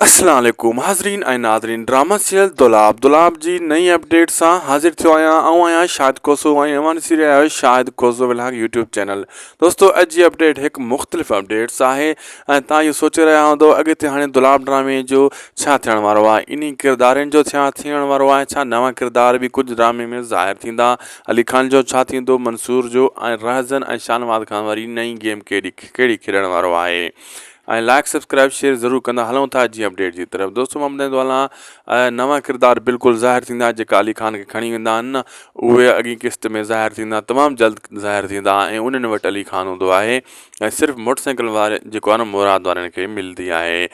السلام عليڪم حاضرين ۽ ناظرين ڊراما سيريل دولاب دولاب جي نئين اپڊيٽ سان حاضر ٿيو آهيان آئون آهيان شاهد کوسو ۽ اوهان ڏسي رهيا آهيو Shahid Khoso vlog YouTube channel دوستو اڄ جي اپڊيٽ هڪ مختلف اپڊيٽس آهي ۽ تان اهو سوچي رهيا هوندو اڳتي هاڻي دولاب ڊرامي جو ڇا ٿيڻ وارو آهي انهي ڪردارن جو ڇا ٿيڻ وارو آهي ڇا نوان ڪردار به ڪجهه ڊرامي ۾ ظاهر ٿيندا علي خان جو ڇا ٿيندو منصور جو ۽ رهزن ۽ شاهنواز خان واري نئين گيم ڪهڙي ڪهڙي کيڏڻ وارو آهي ۽ لائيڪ سبسڪرائب شيئر ضرور ڪندا هلون ٿا جي اپڊيٽ جي طرف دوستو مان ٻڌائيندو هلان نوان ڪردار بلڪل ظاهر ٿيندا جيڪا علي خان کي کڻي ويندا آهن اهي اڳين قسط ۾ ظاهر ٿيندا تمام جلد ظاهر ٿيندا ۽ انهن وٽ علي خان هوندو آهي ۽ صرف موٽر سائيڪل واري جيڪو آهن مراد وارن کي ملدي آهي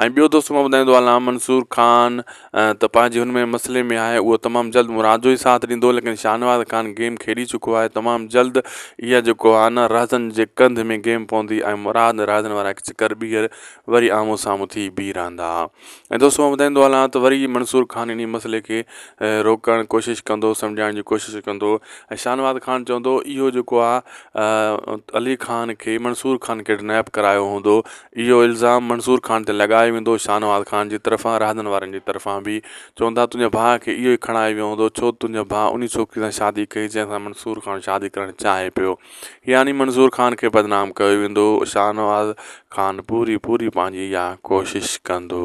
۽ ٻيو دوستو مان ٻڌائيندو هلان منصور خان ته پنهنجي هن ۾ مسئلي ۾ آهي اهو تمام جلد مراد جو ئي ساٿ ڏيندو ليڪن شاهنواز خان گيم کيڏي چڪو آهي تمام جلد اها جيڪو آهي نه رهزن جي ڪنڌ ۾ گيم پوندي ۽ مراد رهزن وارا هڪ چڪر ٻيهر وري آمهون سامهون ٿي بيهي رهندا ۽ دوستو مان ٻڌائيندو هلان ته وري منصور خان انهي مسئلي کي روڪڻ ڪوشش ڪندو سمجهائڻ جي ڪوشش ڪندو ۽ شاهنواز خان چوندو اهو جيڪو آهي علي خان کي منصور خان ڪڊنيپ ڪرايو هوندو اهو الزام منصور خان تي لڳايو ويندو، شاهنواز خان جي طرفان رهندن وارن جي طرفان به چوندا تنهنجي ڀاء کي اهو ئي کڻائي ويو هوندو ڇو تنهنجي ڀاء انهي ڇوڪري سان شادي ڪئي جنهن سان منصور خان شادي ڪرڻ چاهي پيو يعني منصور خان کي بدنام ڪيو ويندو شاهنواز خان پوري پوري پنهنجي اها ڪوشش ڪندو.